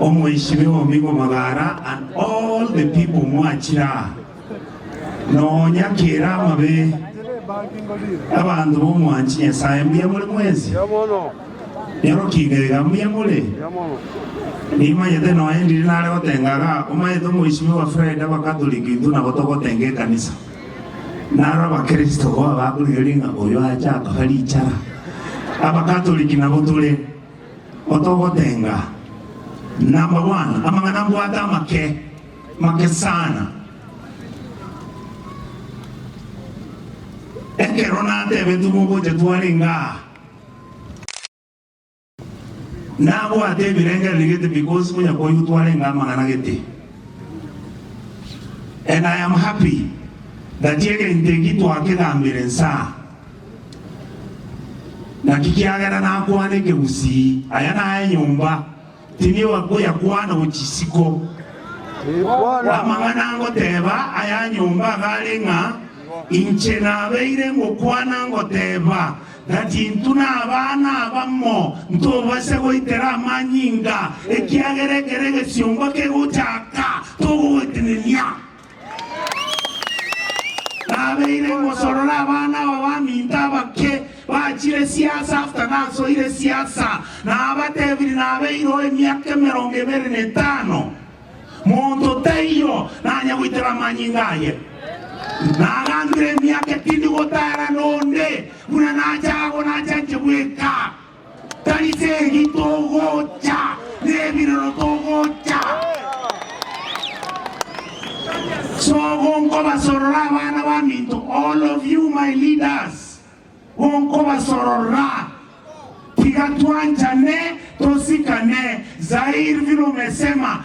Omoishibe omigo magara and all the people mwachire aa, nonya kera amabe abanto b'omwanchi Nyasaye mbuya more mwensi. Nyorokinga iga mbuya more. Nimanyete nonya ndiri nare gotenga iga, omanyete omoishibe wa Fred abakatoliki intwe nabo togotenga ekanisa. Naro abakristo boa bakorigereria ng'a oyo acha atohe richara. Abakatoliki nabo tore. Otogotenga, number one, amang'ana mbwate amake, make sana. Ekero natebeti mogocha twarenge aa, nabwate ebirengereri gete because onya koigwa twarenge amang'ana gete. And I am happy that egento eki twakegambire nsaa. Naki kiagera nakwana ekegusii, Aya naye enyomba, tinigo akoyakwana go chisiko. Amang'ana ngoteba aya nyomba iga are ng'a inche nabeire ngokwana ngoteba, Gati intwe nabana abamo ntobase goitera amanyinga, ekiagera ekero egesiomba kegochaka togogotenenia. Nabeire ngosorora abana aba baminto abake bachire siasa after nasoire siasa. Nabatebirie nabeireo emiaka emerongo ebere na etano. Monto taiyo nanya goitera amanyinga aye. Nagambire emiaka etindi gotara nonde buna nacha agwo nachanche bweka. Tari chegi togocha, nebirero togocha. Sogo nkobasorora abana baminto, all of you my leaders, gonkobasorora, tiga twanchane, tosikane, Zaire vile umesema,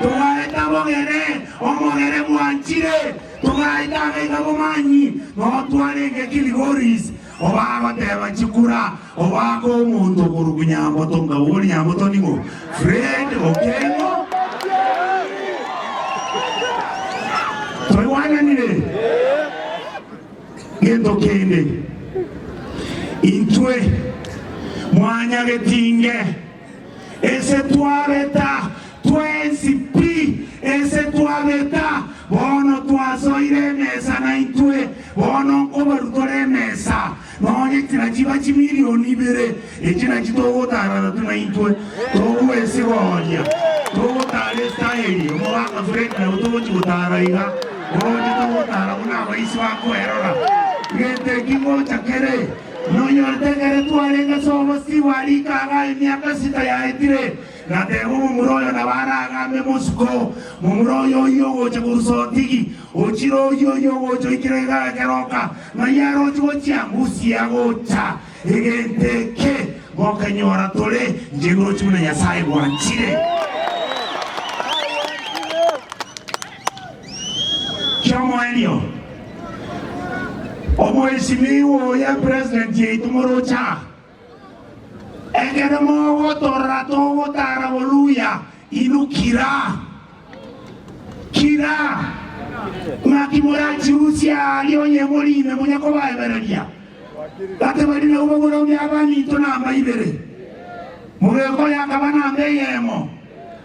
Togaeta abogere, omogere bwanchire, togaeta abaiga bomanyi, notware engeki Ligoris, obagoteba chikura, obake omonto korwa Nyamboto nga ori Nyamboto nigo Fred Okengo. Toigwananire? Gento kende intwe mwanyagetinge. Ese twabeta twensi pi, ese twabeta, bono twasoire emesa naintwe, bono nkobaru tore emesa, nonye chira chiba chimilioni ibere, echi nachi togotaararatu naintwe, togwesi gonya togotaara Esitaeli, omogaka Fred nabo togochi gotaara iga, oroche togotaara buna abaisi bakoerora, gete ki ngocha kere. Nonyorete ekero twarenge ase obosio bwa rikaga emiaka esita yaetire, na teba omomura oyo nabo aragame bosuko, momura oyo oyio ogocha korusa otigi, ochire oyio oyio ogocha oikire rikaga keroka, ng'ai aroche gochia? Ngusi agocha, egento eke mokenyora tore nchegorochi buna Nyasae gwanchire. ki'omoerio. Omweshimiwa oye president yaito moroche aa, ekero mogotorora togotara boruya inwe kira kira ng'aki morachirusie aaria onye mori ime muna kobaebereria gati baria nabo baboromia abanto namba ibere, mogekore akaba namba eyemo.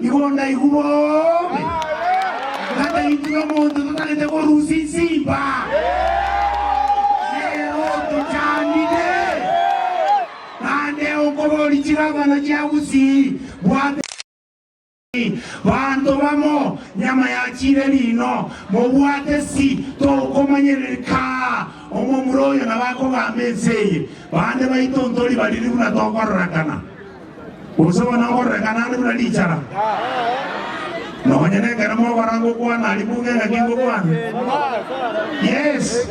Igo ndaigwa bobe, ngata intwe nomonto totarete korusia insimba, nero tochandire, naende okoboria chigabana chia bosii bwa Benjamini, Banto bamo, nyama yachiire riino, mobwate si tokomanyereri kaa omomura oyo nabo akogamba ense eye, bande baito ntori bariri buna tokororekana. Gose bono ngororeka naende buna richara, nonya nekero mobaranga okwana aria bunga engaki ngokwana. Yes,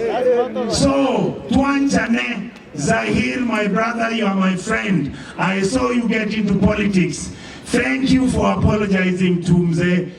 so twanchane Zahir my brother you are my friend I saw you get into politics thank you for apologizing to Mzee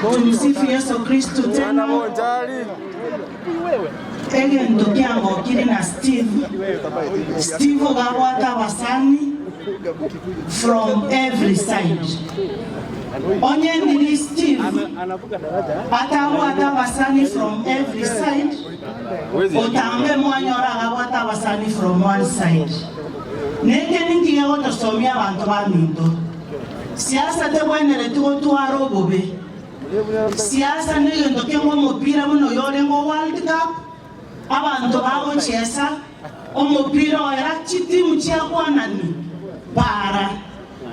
Tumsifu Yesu Kristo tena. Egento kiangokire na Steve, Steve gabwate abasani from every side. Onye ndiri Steve atabwate abasani from every side, otambe mwanyora agabwate abasani from one side. Neke ninki gegotosomia abanto baminto? Siasa tegwenereti gotwara obobe. Siasa negento keng'we omopira buna oyo oreng'o world cup, abanto bagochesa omopira oera chitimu chiakwanani para.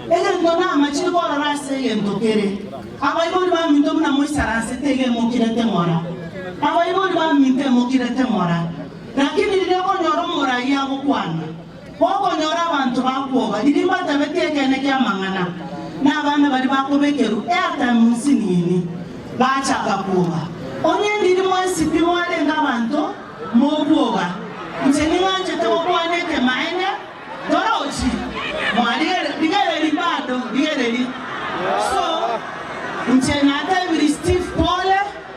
Egento namachire korora ase egento kere, abaibori baminto buna moisaranse teiga emokirete ng'ora. Abaibori baminto emokirete ng'ora, lakini riria okonyora omorai agokwana, Gokonyora abanto bakwoba riria mbatabeti ekeene ki'amang'ana, na abana baria bakobekerwa airtime munsini ime, bachaka kwoba. Onye ndiri mwensi pi mwarenge abanto mokwoba, inche ning'anchete gokwana ekemaene, Torochi, mwarigere, rigereri bado, rigereri. So, inche natebirie Steve pole.